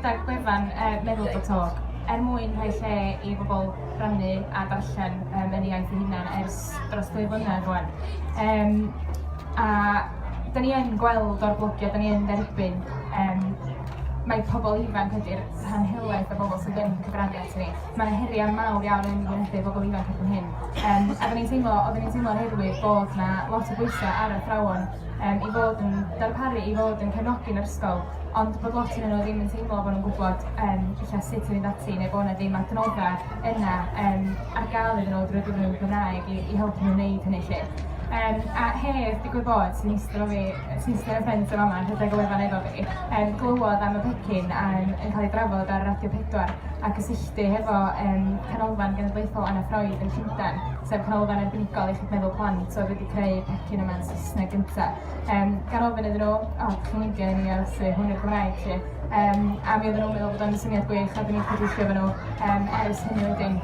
gyda'r gwefan uh, meddwl bod talk er mwyn rhoi lle i bobl rannu a darllen um, yn ei iaith ei hunan ers dros dwy flynedd rwan. Um, a da ni yn gweld o'r blogio, da ni yn dderbyn, um, mae pobl ifanc ydy'r rhan helaeth o bobl sydd yn cyfrannu at ni. Mae 'na heriau mawr iawn yn wynebu pobl ifanc erbyn hyn. Yym a 'dan ni'n teimlo oedden ni'n teimlo oherwydd bod 'na lot o bwysau ar athrawon yym i fod yn darparu, i fod yn cefnogi'r ysgol, ond bod lot ohonyn nhw ddim yn teimlo bod nhw'n gwybod yym ella sut i fynd ati neu bod 'na ddim adnoddau yna yym ar gael iddyn nhw drwy gyfrwng y Gymraeg i i helpu nhw wneud hynny 'lly. Yym a Hedd, digwydd bod, sy'n iste efo fi... Cisgen y ffrynt yn fama yn rhedeg y wefan efo fi. Yym glywed am y pecyn yym yn cael ei drafod ar Radio 4 a cysylltu hefo yym Canolfan Genedlaethol Anna Freud yn Llundain, sef canolfan arbenigol iechyd meddwl plant oedd wedi creu pecyn yma yn Saesneg gynta. Yym gan ofyn iddyn nhw, o, oh, chi'n mynd gen i os yw hwn i'r Gymraeg chi. Um, a mi oedden nhw'n meddwl bod o'n syniad gwych a dyn ni'n cydweithio efo nhw um, ers hynny wedyn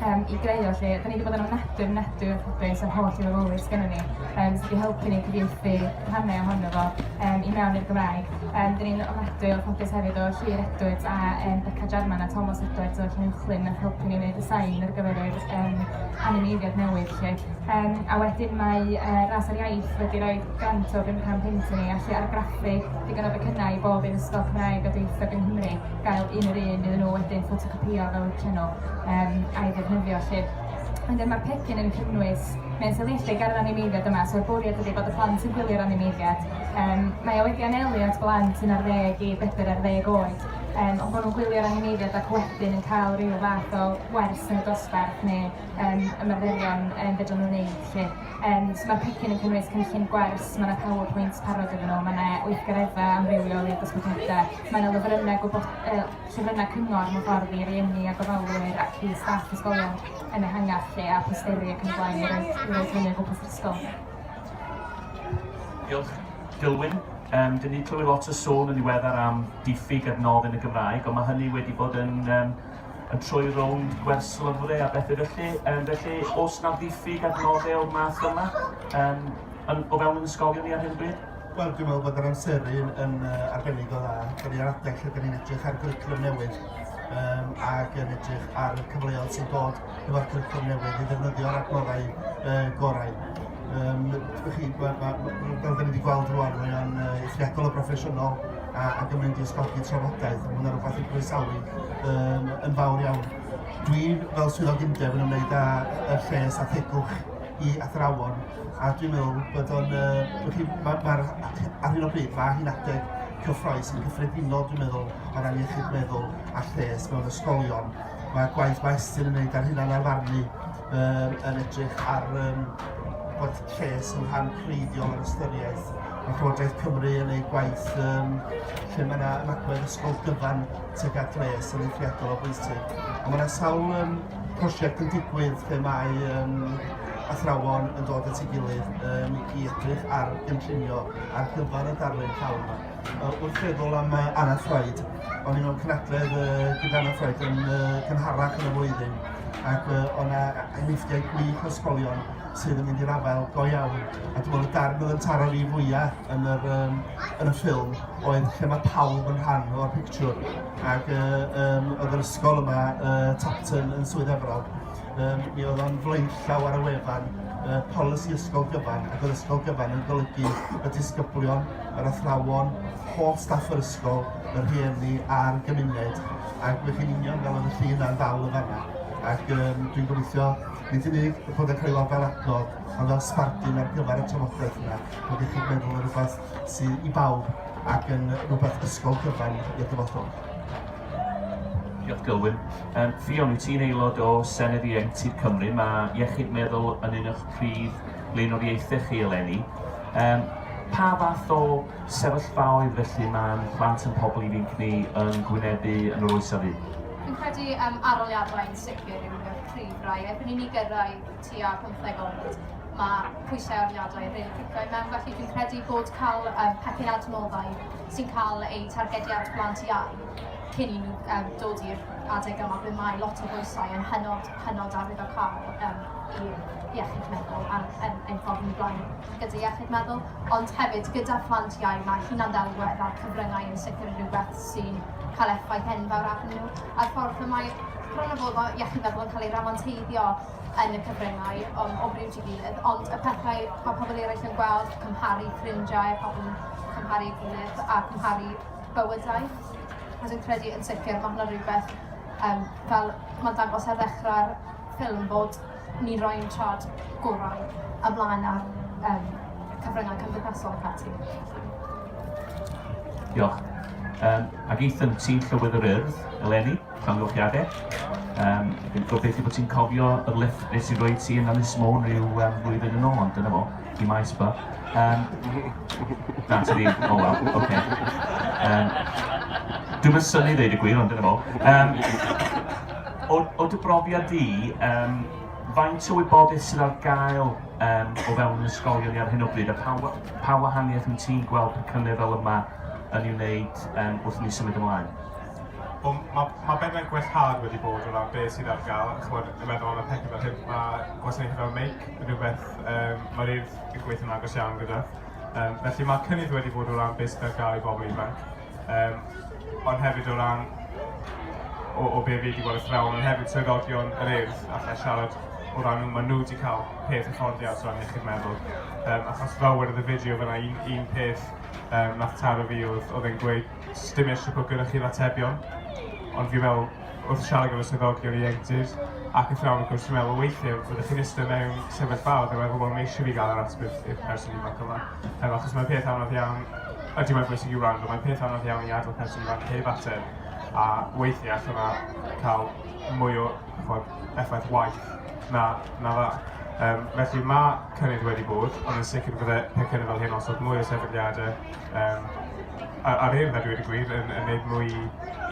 um, i greu o lle. Da ni wedi bod yn ofnadwy, ofnadwy o ffodus a'r holl i fawr sgynnon ni. yym sydd 'di helpu ni cyfieithu rhannau ohono fo yym i mewn i'r Gymraeg. Yym dyn ni'n ofnadwy o ffodus hefyd o Llŷr Edwards a yym Beca Jarman a Tomos Edwards o'r Llanuwchllyn nath helpu ni wneud y sain ar gyfer yr yym animeiddiad newydd 'lly. Yym a wedyn mae yy Ras ar Iaith wedi rhoi grant o £500 i ni allu argraffu digon o becynnau i bob un ysgol Cymraeg a dwyieithog yng Nghymru gael un yr un iddyn nhw wedyn ffotocopïo fel y llenw yym a'i ddefnyddio 'lly. Wedyn mae'r pecyn yn cynnwys mewn sefydlu ger yr animeiddiad yma, so'r bwriad ydy bod y plant sy'n gwylio'r animeiddiad, um, mae o wedi anelu at blant sy'n ar ddeg i bedr ar ddeg oed, um, ond bod nhw'n gwylio'r animeiddiad ac wedyn yn cael rhyw fath o wers neu dosbarth neu um, ymarferion um, fedrwn nhw'n neud. Lle. Um, so mae'r pecyn yn cynnwys cynllun gwers, mae yna PowerPoint parod iddyn nhw, mae yna weithgareddau amrywiol i'r dosbarthiadau, mae yna lyfrynnau gwybod, uh, sesiynau cyngor, hyfforddi rhieni a gofalwyr ac i staff ysgolion yn ehangach lle a phosteri ac yn y blaen i roi, i roi hynny o gwmpas yr ysgol. Diolch. Dilwyn, um, dyn ni clywed lot o sôn yn ddiweddar am diffyg adnodd yn y Gymraeg, ond mae hynny wedi bod yn um, yn troi rownd gwers lyfrau a bethau felly. Um, felly, os na ddiffyg adnoddau o'r math yma, um, yn, o fewn yn ysgolion ni ar hyn bryd? Wel dwi'n meddwl bod yr amseru'n yn yy arbennig o dda. Dan ni ar adeg lle dan ni'n edrych ar gwricwlwm newydd um, ac yn edrych ar y cyfleoedd sy'n dod efo'r cwricwlwm newydd i ddefnyddio'r adnoddau uh, gorau. Um, chi, ma, ma, ma, fel da ni wedi gweld rwan, mae o'n uh, eithriadol o broffesiynol a, ac yn mynd i ysgogi trafodaeth. Mae hwnna rhywbeth i groesawu um, yn fawr iawn. Dwi fel swyddog undeb yn ymwneud â y lles a thegwch i athrawon a dwi'n meddwl bod o'n yy... mae ar hyn o bryd mae hi'n adeg cyffroes yn gyffredinol dwi'n meddwl o ran iechyd meddwl a lles mewn ysgolion. Mae'r gwaith mae Estyn yn gwneud ar hynna'n arfarnu um, yn edrych ar um, bod lles yn rhan creiddiol o'r ystyriaeth. Mae Llywodraeth Cymru yn ei gwaith um, lle mae yna ymagwedd ysgol gyfan tuag at les yn eithriadol o bwysig. Ond mae yna sawl um, prosiect yn digwydd lle mae um, athrawon yn dod at ei gilydd yym i edrych ar gynllunio ar gyfer y darlun llawn yma. Yy wrth feddwl am yy Anna Freud, o'n i'n mewn cynadledd yy gyda Anna Freud yn yy cynharach yn y flwyddyn ac yy o' 'na enghreifftiau gwych o ysgolion sydd yn mynd i'r afael go iawn a dwi'n meddwl y darn oedd yn taro fi fwya yn yr yym yn y ffilm oedd lle ma' pawb yn rhan o'r pictiwr ac yy yym oedd yr ysgol yma yy Tapton yn Swydd Efrog Um, mi oedd o'n flaenllaw ar y wefan uh, polisi ysgol gyfan ac oedd ysgol gyfan yn golygu y disgyblion, yr athrawon, holl staff yr ysgol, y rhieni a'r gymuned ac fe chi'n union fel oedd y llun a'n ddal y fanna ac um, dwi'n gobeithio nid yn unig y bod yn cael ei weld fel adnod ond fel sbardun ar gyfer y trafodaeth yna bod i chi'n meddwl yn rhywbeth sydd i bawb ac yn rhywbeth ysgol gyfan i'r dyfodol. Diolch Gylwyn. Um, Ffion, wyt ti'n aelod o Senedd Ieuenctid Cymru. Mae iechyd meddwl yn un o'ch prif leunoriaethau chi eleni. Um, pa fath o sefyllfaoedd felly mae'n plant yn pobl ifanc ni yn gwynebu yn yr oes afu? Fi'n credu um, aroliadau yn sicr yw y prif rai. Erbyn i ni gyrraedd tua 15 oed, mae pwysau aroliadau yn rili really cicio i mewn, felly fi'n credu bod cael um, pecyn adnoddau sy'n cael eu targedu ar blant iau cyn i nhw yym dod i'r adeg yma ble mae lot o bwysau yn hynod, hynod arwyddocaol yym i iechyd meddwl a'n ein ein ffordd ni'n blaen gyda iechyd meddwl, ond hefyd gyda phlant iau mae hunan-ddelwedd a'r cyfryngau yn sicr yn rhywbeth sy'n cael effaith enfawr arnyn nhw a'r ffordd y mae bron a bod fel iechyd meddwl yn cael ei ramanteiddio yn y cyfryngau um, o bryd i gilydd, ond y pethau mae pobl eraill yn gweld, cymharu ffrindiau, pobl yn cymharu gilydd a cymharu bywydau. A dwi'n credu yn sicr mae hwnna rhywbeth um, fel mae'n dangos ar ddechrau'r ffilm bod ni roi'n trad gorau a blaen ar um, cyfryngau cymdeithasol ac ati. Diolch. Um, ac Ethan, ti'n Llywydd yr Urdd, eleni? Amgylchiade. Um, dwi'n gobeithio bod ti'n cofio y lift nes i roi ti yn Ynys Môn rhyw um, flwyddyn yn ôl, ond dyna fo, i maes ba. Um, na, ti ddim, o oh, wel, oce. Okay. Um, dwi'n mynd syni ddeud y gwir, ond dyna fo. Um, o, o dy brofiad di, um, faint o wybodaeth sydd ar gael um, o fewn ysgolion ni ar hyn o bryd, a pa, pa wahaniaeth yn ti'n gweld pecynau fel yma yn ei wneud um, wrth ni symud ymlaen? Wel, mae ma' bethau gwellhad wedi bod o ran be sydd ar gael, chimod, yn meddwl am y pecyn fel hyn, mae gwasanaethau fel meic yn rhywbeth um, mae'r urdd yn gweithio'n agos iawn gyda. Um, felly mae cynnydd wedi bod o ran beth sydd ar gael i bobl ifanc, um, ond hefyd o ran o, o be fi wedi gweld y thrawn, ond hefyd swyddogion yr urdd allai siarad o ran nhw, maen nhw wedi cael peth hyfforddiant o ran iechyd meddwl. Um, achos fel wedodd y fideo fyna, un, un peth um, nath taro fi oedd, oedd e'n gweud Sdim isie bod gyda chi'r atebion, ond fi'n meddwl, wrth siarad gyda swyddogion ieuenctid ac athrawon wrth gwrs, fi'n meddwl weithiau fyddwch chi'n iste mewn sefyllfa o dywed pobl mae eisiau fi gael yr ateb i'r person ifanc yma. Yym, achos mae'n peth anodd iawn, ydy mae'n bwysig i wrando, mae'n peth anodd iawn i adael person ifanc heb ateb, a weithiau allan na cael mwy o chod, effaith waith na, na dda. Um, felly mae cynnydd wedi bod, ond yn sicr fydde pethau fel hyn osod mwy o sefydliadau um, ar, ar hyn, a dwi wedi gwir, yn, yn gwneud mwy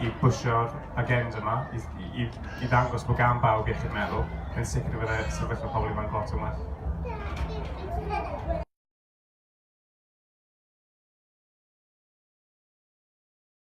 i bwysio'r agenda yma, i, i, i ddangos bod gan bawb iechyd meddwl, yn sicr y byddai sefyllfa pobl ifanc lot yn well.